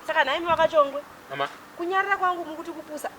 Saka nhaimi vakachongwe. Mama. Kunyarira kwangu mukuti kupusa.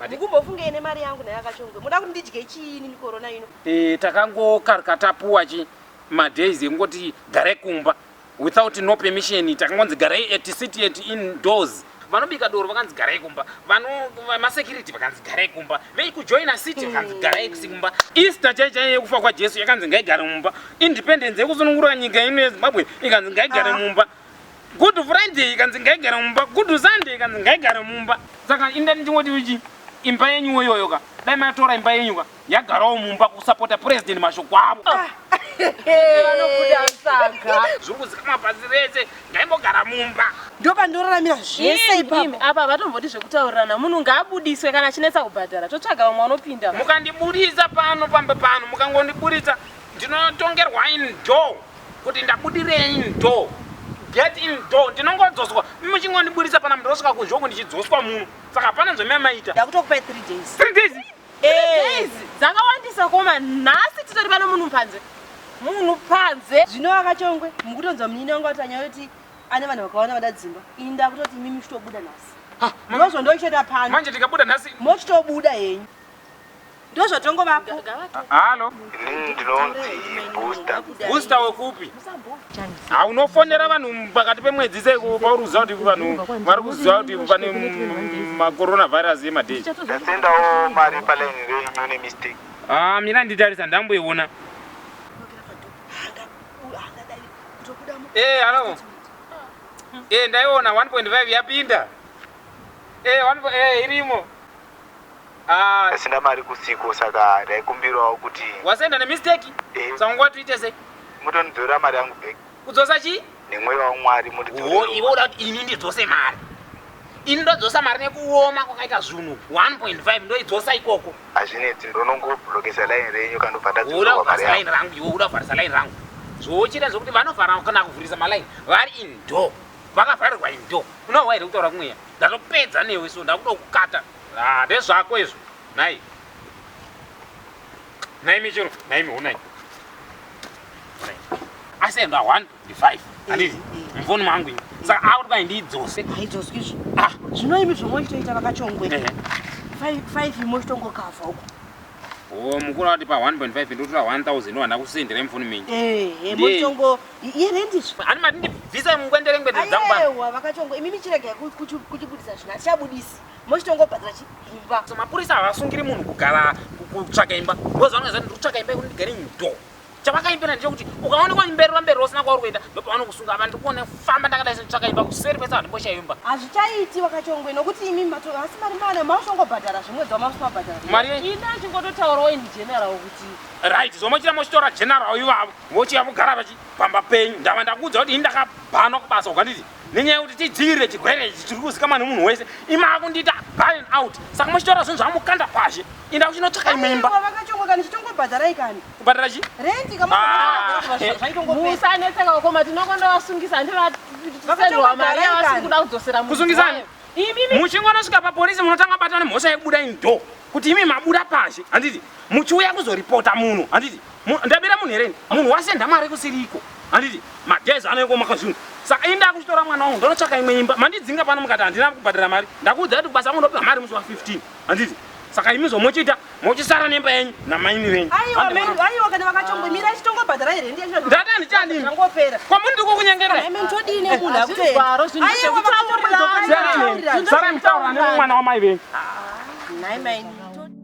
Mukumbofunga ine mari yangu naye akachongwe. Muda kuti ndidye chiini ni corona ino? Eh, takangokaruka tapuwa chi madays ekungoti gare kumba without no permission takangonzi garai at city at indoors vanobika doro vakanzi garai kumba vamasecurity vakanzi garai kumba veikujoina city vakanzi garai kumba easter chai chai yekufa kwajesu yakanzi ngaigare mumba independence yekusunungura nyika ino yezimbabwe ikanzi ngaigare ah. mumba Good Friday ikanzi ngaigare mumba, Good Sunday ikanzi ngaigare mumba. Saka inda ndichingoti uchi imba yenyu woyoyo ka dai matora imba yenyu ka yagarawo mumba kusapota president mashoko avo ah. vanobuda saka zviri kuzikamwa pasi rese ndaimbogara mumba ndopandoraramira zvese ipapa apa vatomboti zvekutaurirana munhu ngaabudiswe kana achinetsa kubhadhara totsvaga vamwe vanopinda mukandibudisa pano pamba pano mukangondiburitsa ndinotongerwa in door kuti ndabudirei in door get in door ndinongodzoswa muchingondiburitsa pana mnhu ndosvika kunzva uku ndichidzoswa muno saka hapana zvamamaita ndakutokupai 3 days 3 days eh. dzakawandisa koma nhasi titori pano munhu panze munhu panze zvino akachongwe mukutonzwa munyini wangu ati anyayoti ane vanhu vakawanda vada dzimba ini ndakutoti mimi muchitobuda nhasi ndozvo ndochitoita pano manje tikabuda nhasi mochitobuda henyu ndozvatongovapo halo inini ndinonzi booster booster wekupi ha unofonera vanhu pakati pemwedzi sei pauruziva kuti vanhu vari kuziva kuti pane macoronavirus yemadei ndasendawo mari palaini renyu nemistake ha ah, mira nditarisa ndamboiona ee eh, halo ee eh, ndaiona 1.5 yapinda ee eh, irimo Aah. Ndasenda mari kusiko saka ndaikumbirawo kuti. Wasenda nemistake? Eh. Saka nguva tuite sei? Mutondidzorera mari yangu back. Kudzosa chii? Nemweya waMwari mundidzorere. Oh, iwe uda kuti ini ndidzose mari. Ini ndodzosa mari nekuoma kwakaita zvunhu 1.5 ndoidzosa ikoko. Hazvinetsi ndonongoblokesa line renyu kana ndobva ndadzosa mari yangu. Uda kuvharisa line rangu iwe uda kuvharisa line rangu. Zvochita zvekuti vanovhara kana kuvhurisa maline vari in door. Vakavharirwa in door. Unohwa here kutaura kumweya? Ndatopedza newe so ndakuda kukata. Ah, ndezvako izvo. Nhai. Nhai michero, nhai mihonai. Asi enda 1 ndi 5. Andiri. Mfoni mangu ini. Saka auri kwai ndidzose. Haidzoswi izvo. Ah, zvino imi zvomwe chitoita vakachongwe. 5 5 imwe chitongokava uko. Oh, mukuru ati pa 1.5 ndotora 1000 wanda kusendera mfoni mingi. Eh, hey, hey, motongo here ndizvo ani mati ndibvisa ngwendere ngwendere dzangu baba aiwa vakachongo imimi chirega kuchibudisa zvina chabudisi mochitongobhadhira imba so mapurisa havasungiri munhu kugara kutsvaka imba ndozvavangaza ndikutsvaka imba yekuti ndigare ndo chavakaimbira ndechekuti ukaonekwa imba irora mberi rosina kwauri kuenda ndopavanokusunga apa ndikuona famba ndakadai senditsvaka imba kuseri kwese vandimboshayo imba hazvichaiti vakachongwe nokuti imi asi mari mana mauchongobhadhara zvimwedzi wamausimabhadhara mari ini achingototaurawo ini general kuti right zvomochita mochitora general ivavo mochiya mugara pachi pamba penyu ndava ndakuudza kuti ini ndakabhanwa kubasa ukanditi nenyaya yekuti tidzivirire chirwere ichi chiri kuzikamwa nemunhu wese imakundiita baren out saka muchitaura zvinhu zvamukanda pashi inda kuchinotsvaka imwe imba kubhadhara chi musanetseka ukoma tinokonda vasungisa handivatisendwa mari yavasiri kuda kudzosera kusungisani muchingonosvika papolisi munotanga batana mhosva yekubuda indo kuti imi mabuda pashi handiti muchiuya kuzoripota munhu handiti ndabira munhu here munhu wasenda mari kusiriko handiti magezi anoiko maka zvinhu saka inda akuchitora mwana wangu ndonotsvaka imwe imba mandidzinga pano mukati handina kubhadhara mari ndakuudza kuti kubasa angu ndopiwa mari musi wa 15 handiti saka imi zvomochiita mochisara nemba yenyu namaini venyu aiwa kana vakachongomirai chitongobhadhara here ndata ndichani kwamuri ndiko kunyengeraisaramitaura nemwana wamai venyu